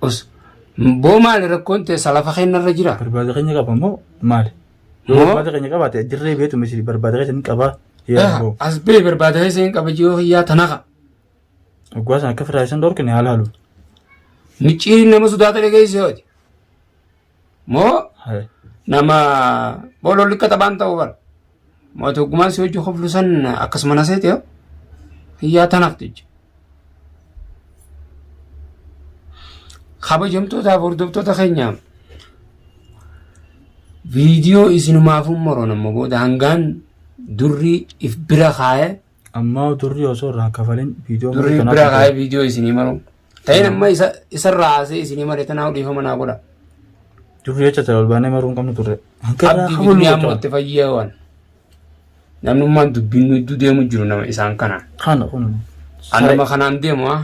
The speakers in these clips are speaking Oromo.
Os boo maali rakkoon teessa lafa kennarra jira? Barbaada keenya qaba moo maali? Yoo Moo? barbaada keenya qabaate dirree beetu misiri barbaada keessa ni qabaa. Yaa Aha, boo. As bee barbaada keessa hin qaba jiruu kiyyaa tanaka. Oggaa sana akka firaa isaan dhorkine haala halu. Micciiriin nama sodaata dhageessee hoji. moo nama boololli akka taphaan ta'u bara mootii oggumaan si hojii koflu san akkasuma na seete yoo hiyyaa tanaaf jecha. Kabajamtootaaf hordoftoota keenya viidiyoo isinumaafuu moroon amma booda hangaan durri if bira kaa'ee Ammaa durri osoo irraa kafalin viidiyoo durri murtana bira kaa'ee qabdu. viidiyoo isinii maru ta'in amma isa isarraa haasee isinii mare tanaa dhiifama naa godha Durri jecha ta'e ol baanee maruu hin qabnu turre. Hanqarraa abdii kafaluu bitnee amma qabna. itti fayyaawan namnummaan dubbiin nu idduu deemu jiru nama isaan kana Kana kun. an nama kanaan deemu haa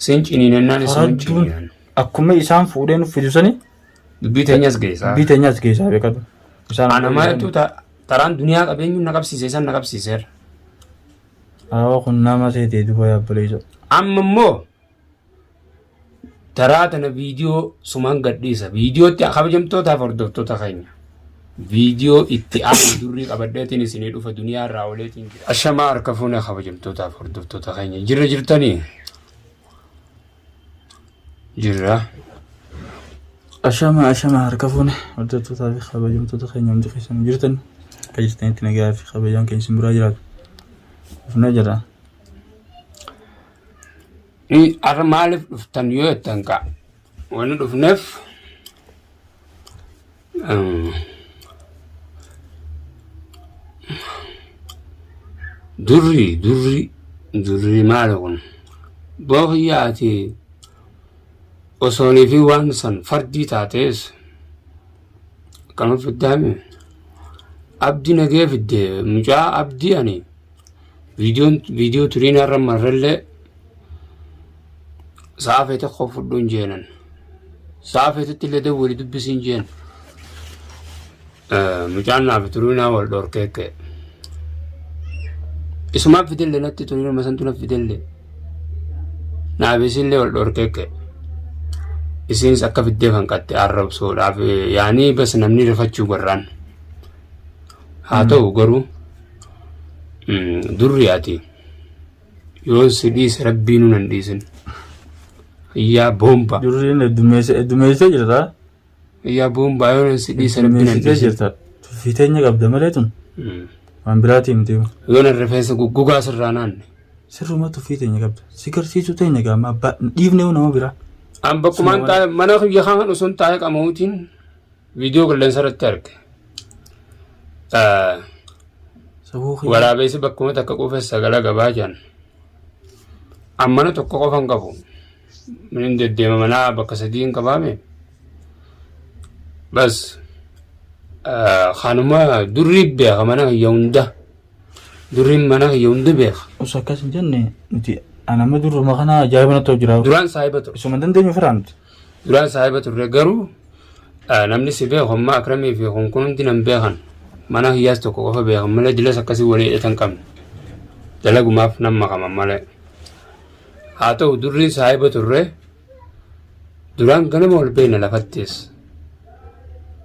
sin ciniinannaan isin Faradduun ciniinan akkuma isaan fuudhee nuuf fidu sani dubbii teenyas geessaa biteenyas keessaa beekadhu. Isaan anama jechuun ta- Taraan duniyaa qabeenyuun na qabsiise isan na qabsiiseera. Awoo kun nama seetee duba yaabboleesoo. Amma immoo taraa tana viidiyoo sumaan gadhiisa. Viidiyootti kabajamtootaaf hordoftoota keenya. Viidiyoo itti aanu durrii qabadheetiin isinii dhufa duniyaa irraa ooleetiin jira. Ashamaa harka fuunee kabajamtootaaf hordoftoota keenya. Jirra jirtanii? jirra. Ashama ashama harka fuune hojjettootaa fi kabajamtoota keenya hundi keessan jirtan akka jirtanitti nagaa fi kabajaan keenya isin biraa jiraatu. Dhufnee jira. Har'a maaliif dhuftan yoo jettan kaa wanni dhufneef Durri durri durri maali kun bookiyyaa ati osoonii fi waan san fardii taatees akkana fiddaami abdi nagee fidde mucaa abdii ani Viidiyoon viidiyoo turiin har'a marrallee sa'a feete koo fudhuun jeenan. Sa'a feetetti illee dawwali dubbisiin jeen. Mucaan naaf turiinaa wal dhorkee ka'e. Isumaaf fidelle natti turiin masantu naf fidelle. Naaf isinillee wal dhorkee ka'e. Isinis akka fiddee fanqatte arrabsoodhaaf yaanii bas namni rifachuu garraan. Haa ta'u garuu. durri ati yoon si dhiise rabbii nuun hin dhiisin yaa boomba Durriin heddummeessa heddummeessitee jirta. yaa boomba yoon si dhiise rabbii nuun hin Heddummeessitee dhiisin jirta. Tuffii teenya qabda malee tun Mm. waan biraatii miti. yoon rifeensa guggugaa sirraa naanne Sirruma tuffii teenya qabda. Si garsiisuu teenya gaama abbaa dhiifnee nama biraa. an bakkumaan Suma- taa'e mana kiyya kan osoo hin taa'e qama'uutiin viidiyoo qilleensa irratti arge. Waraabessi bakkuma takka quufes sagala gabaa jiran. Ammana tokko qofa hin qabu. Minin deddeema manaa bakka sadii hin qabaame. Bas kanuma durri beeka mana kiyya hunda. Durriin mana kiyya hunda beeka. Us akkas hin jenne nuti anama durruma kana ajaa'iba natti hojjira. Duraan saahiba ture. Isuma dandeenyu firaan nuti. Duraan saahiba turre garuu namni si beeku amma akramii fi kun kun hundi nan beekan mana hiyyaas tokko qofa beekan malee dilas akkasii walii hidhatan qabne dalagumaaf nan makaman malee haa ta'u durri saahiba turre duraan ganama wal beekna lafattis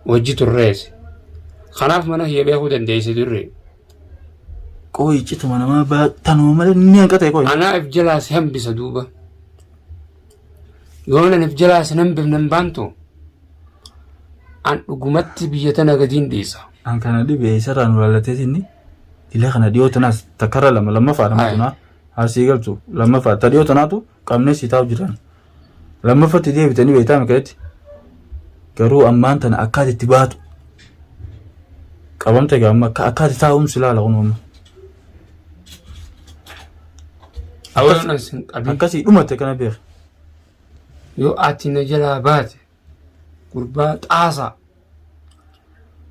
wajji turrees kanaaf mana hiyya beekuu dandeessi durri Qoyi cituma namaa baattanuma malee ni hanqate qoyi. anaaf jalaas hambisa duuba yoon anif jalaa sin hambifne hin baantu an dhugumatti biyya tana gadiin dhiisa an kana dhibe isarraa nu laallateeti inni dila kana dhiyoo tanaas takkarra lama lammaffaa nama Aye. tunaa haasii galchu lammaffaa ta dhiyoo tanaatu qabnee sii taa'u jiran lammaffatti deebitanii beektaa mikaetti garuu ammaan tana akkaati itti baatu qabamte gaamma akka akkaati taa'umsi laala kun amma Awalan sin qabin. Akkasii dhumate kana beeka. Yoo ati na jalaa baate gurbaa xaasaa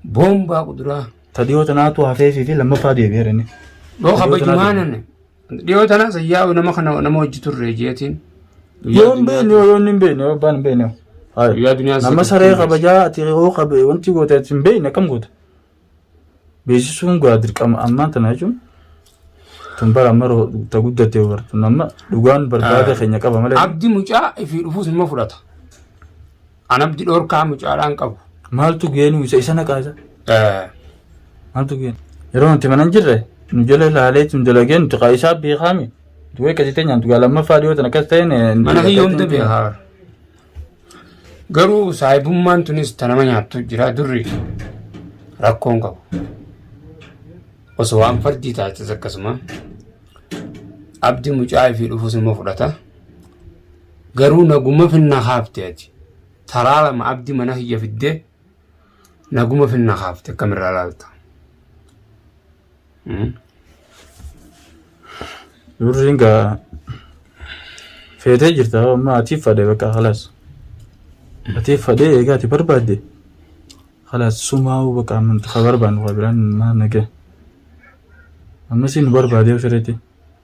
boombaa kuduraa Tadiyoo tanaatu hafeefii fi lammaffaa deebi'eera inni. yoo kabajumaa nane dhiyoo tana sayyaa'u nama kana nama hojji turre jeetiin. Yoo hin beekne yoo inni hin beekne yoo abbaan hin beekne. Guyyaa duniyaan Nama saree kabajaa ati yoo kabe wanti goote ati hin beekne akkam goota. beeksisuun gaa dirqama ammaan tana jechuun tun bara amma roo- ta guddatte bartun amma dhugaan barbaada Ah. keenya qaba malee Abdi mucaa ifii dhufuus nima fudhata. An abdi dhorkaa mucaadhaan qabu. maaltu geenuu isa isa naqaa isa Eh, maaltu geenu yeroo nuti mana hin jirre nu jala ilaalee tun dalagee nuti kaa isaa beekaami duwwee akkasii ta'e nyaantu gaa lammaffaa dhiyoo tan akkas ta'een Mana kiyyoomte beekaa. Garuu saahibummaan tunis ta nama nyaattu jira durri rakkoon qabu. Osoo waan fardii taates akkasuma abdi mucaa ifii dhufus immoo fudhata. Garuu naguma finna haafte ati. Taraa lama abdi mana kiyya fiddee naguma finna haafte akkamirraa laalta. Durriin gaa feetee jirta amma atiif fadhe bakka halaas. Atiif fadhe egaa ati barbaadde halaas sumaa'u bakka amma nuti ka barbaannu ka biraan maal nagee. Ammas nu barbaadee ofirratti.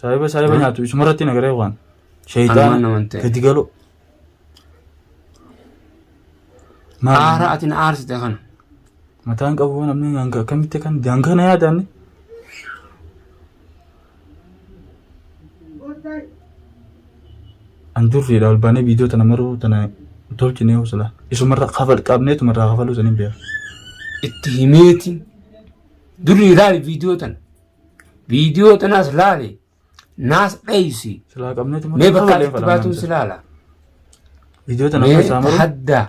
Saahiba saahiba nyaatu isumarratti nagaree waan. Kanumaan Sheeyxaana naman ta'e. gadi galoo. Maal? Aara ati na aarsite kana. Mataan qabu namni hanga akkamitti kan hanga na yaadaanne. An durriidha ol baanee viidiyoo tana maruu tana tolchinee usula. Isumarra kafal qabnee tumarraa kafaluu saniin beeku. Itti himeeti. Durri ilaali viidiyoo tana. Viidiyoo tanaas laali. Naas dheeysi. Silaa qabneetu Mee bakka ati itti baatuun si laala. Viidiyoo tana amma Mee isaa maruu. hadda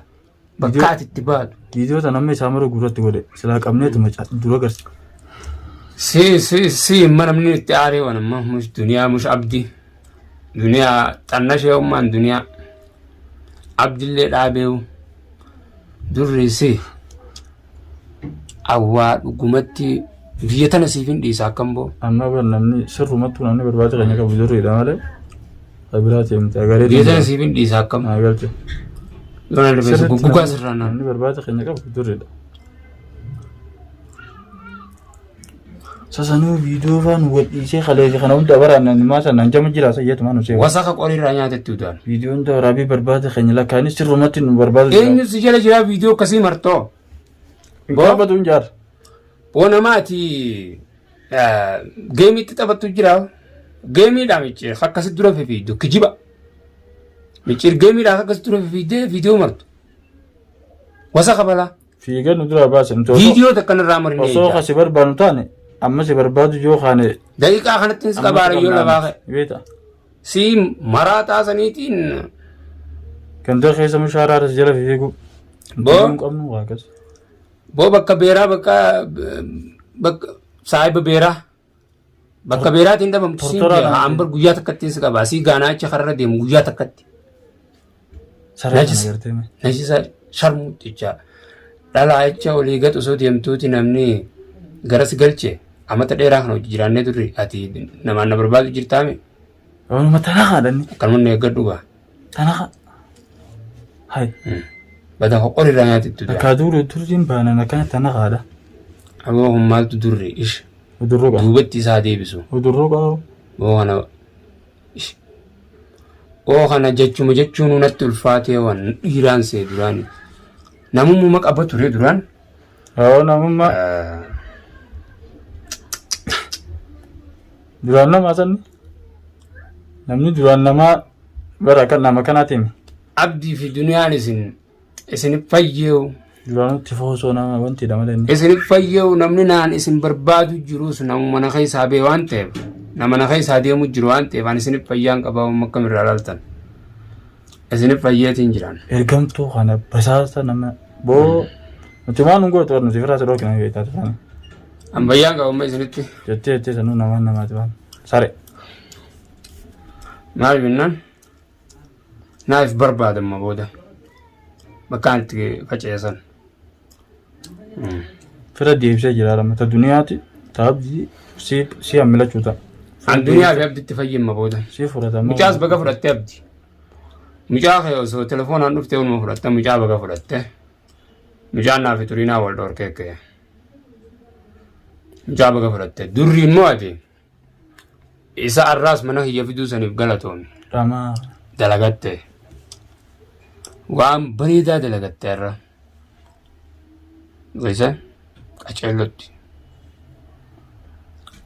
bakka Viidiyoo- ati itti baatu. Viidiyoo tana amma isaa maruu gurratti godhe. Silaa qabneetu macaa dura garsi. Si si si imma namni itti aaree waan amma mush duniyaa mush abdi. Duniyaa xanna ishee ummaan duniyaa. Abdillee dhaabeewu. Durri si. Awwaa dhugumatti biyya tana siif hin dhiisa akkam boo. Amma bar namni sirrumattuu namni barbaacha keenya qabu jirriidha malee ka biraa ta'e miti agaree Biyya tana siif hin dhiisa akkam. naa galche. Lola lafeessa guggugaa sirraa naan. Namni barbaacha keenya qabu jirriidha. Sasanuu viidiyoo faa nu gadhiisee kaleessa kana hunda waraanna numaa sanaan jama jira sayyatumaa nu seewa. Wasaka qorii irraa nyaatetti udaan. Viidiyoo hunda waraabee barbaada keenya lakkaanis sirrumatti nu barbaada jira. Eenyu si jala jiraa viidiyoo akkasii martoo? Hin gaafatu hin jaarra. Boo nama ati eh, geemiitti taphattu jira. Geemiidha micciir akkasi dura fifiiddu kijiba. Micciir geemiidha akkasi dura fifiiddee viidiyoo martu. Wasaka balaa. Fiiga nu duraa baasa nuti osoo- Viidiyoo takka narraa marinee osoo eegdaa. kasi barbaannu taane amma si barbaadu yoo kaane Daqiiqaa kanatti hin qabaara yoo lafaa ka'e. beeta Si maraa taasaniitiin ganda keessa mushaaraa irra si jala fiigu Boo? hin qabnu waa akkas boo bakka beeraa bakka bakka saahiba beeraa. Bakka beeraatiin dhabamtu siin Tortoraa jee kana- haa ambar guyyaa takkattiin si qaba asii gaanaa achi karra deemu guyyaa takkatti. Sarara Najis. kana gartee mee. Najisa sharmuutti jecha dhalaa jecha olii gad osoo deemtuuti namni garas galche amata dheeraa kana hojii jiraannee turre ati namaan na barbaadu jirtaame Waanuma tanaa haadhanni. akkanuma na eeggadhu gaa. Tanaka. Hai. Bada hoqor irraa nyaati itti dura. Akka duuru turtiin baanan akkana tanakaadha. Aboo kun maaltu durri ish Udurroo qaba. duubatti isaa deebisu. Udurroo qaba. Oo kana ish. Oo kana jechuma jechuun natti ulfaatee waan dhiiraan see duraan. Namummaa qaba ture duraan. Yoo namummaa. Duraan nama sanni. Namni duraan namaa bara akka nama kanaatiin Abdii fi duniyaan isin isin fayyeewu. duraanuu tifoo osoo nama wanti dha malee. Isin fayyeewu namni naan isin barbaadu jirus namu mana keessaa bee waan ta'eef nama mana keessaa deemu jiru waan ta'eef ani isin fayyaan qabaa amma akkam irraa laaltan. Isin fayyeetiin jiran. Ergamtuu kana basaasa nama boo nuti waan nu gootu nuti firaa si dhookina beektaa turan. Ambayyaan qabamma isinitti. Jettee jettee sanuu namaan namaati waan. Sare. Maal jennaan? Naaf barbaadamma booda. Bakkaan itti faca'isan. Fira deebisee jira lama ta duniyaati ta abdii si si hammilachuu ta'a. An duniyaa fi abditti fayyimma booda. Si fudhatama. Mucaas baga fudhattee abdi. Mucaa kee osoo telefoonaan dhuftee oluma fudhatte mucaa baga fudhatte. Mucaan naaf turinaa wal dhorkee kee. Mucaa baga fudhatte. Durri immoo ati isa arraas mana kiyya fiduu saniif galatoomi. Ramaa. Dalagatte. Waan bareedaa dalagatte irra. Isa qaceellotti.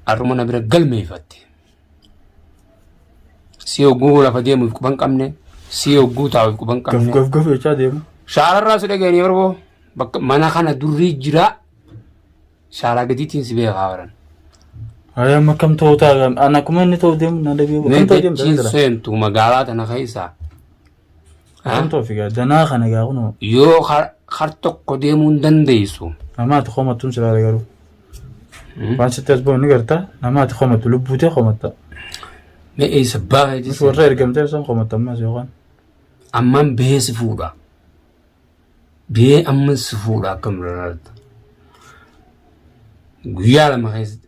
Har'uma na bira galmeeffatte. si hogguu lafa deemuuf quban qabne si hogguu taa'uuf quban Gaf qabne gaf gaf jechaa deemu. shaararraa si dhageenye barboo bakka mana kana durrii jira shaaraa gadiitiin si beekaa waran Ayi amma kam ta'uu taa'an an akkuma inni ta'uu deemu na deebi'u. mee Kam ta'uu deemu jechiin taa'u seentu magaalaa tana keessaa Akan toofi gaa danaa kana gaa kunoo. Yoo kar tokko deemuu hin dandeessu. Namaa ati komattuun silaale garuu. Waan sitti as ba'u ni garta namaa ati komattu lubbuutee komatta. Mee eessa baay'ee Nus warra ergamtee san komatta ammas yookaan. Ammaan bee si fuudha. Bee amma si fuudha akkam lalaata. Guyyaa lama keessatti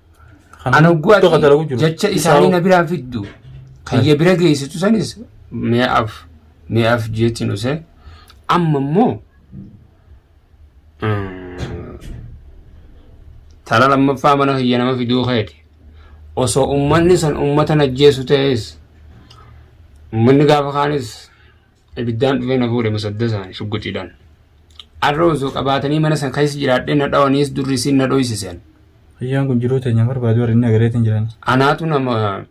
Kan An hogguu guddaa kan dalagu ati jiru. jecha Isaa isaanii hoo- na biraan fiddu kayya bira geessitu sanis mi'aaf mi'aaf jeetti nuse amma immoo mm, tala lammaffaa mana kiyya nama fiduu keeti osoo ummanni san ummata najjeessu ta'es ummanni gaafa kaanis Ibiddaan dhufee na fuudhe musaddasaan shugguxiidhaan. Arra osoo qabaatanii mana san keessa jiraadhee na dhawaniis durri isiin na dhoysisen. Guyyaan kun jiruu teenya barbaadu warri inni agareetiin jiran. Anaatu nama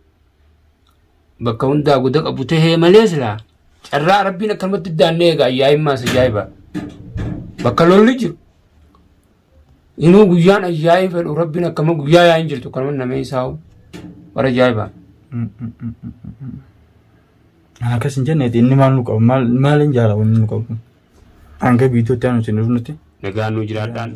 bakka hundaa guda qabu tahee malee silaa carraa rabbiin akkanumatti daannee egaa ayyaa'immaa isa jaa'iba. Bakka lolli jiru Inuu guyyaan ayyaa'ii fedhu rabbiin akkama guyyaa yaa'iin jirtu kan nama namee isaa'u bara jaa'ibaa. Akkas hin jenneeti inni maal nu qabu maal hin jaala wanni nu qabu hanga biitootti aanu isin dhufnutti. Nagaan nu jiraadhaan.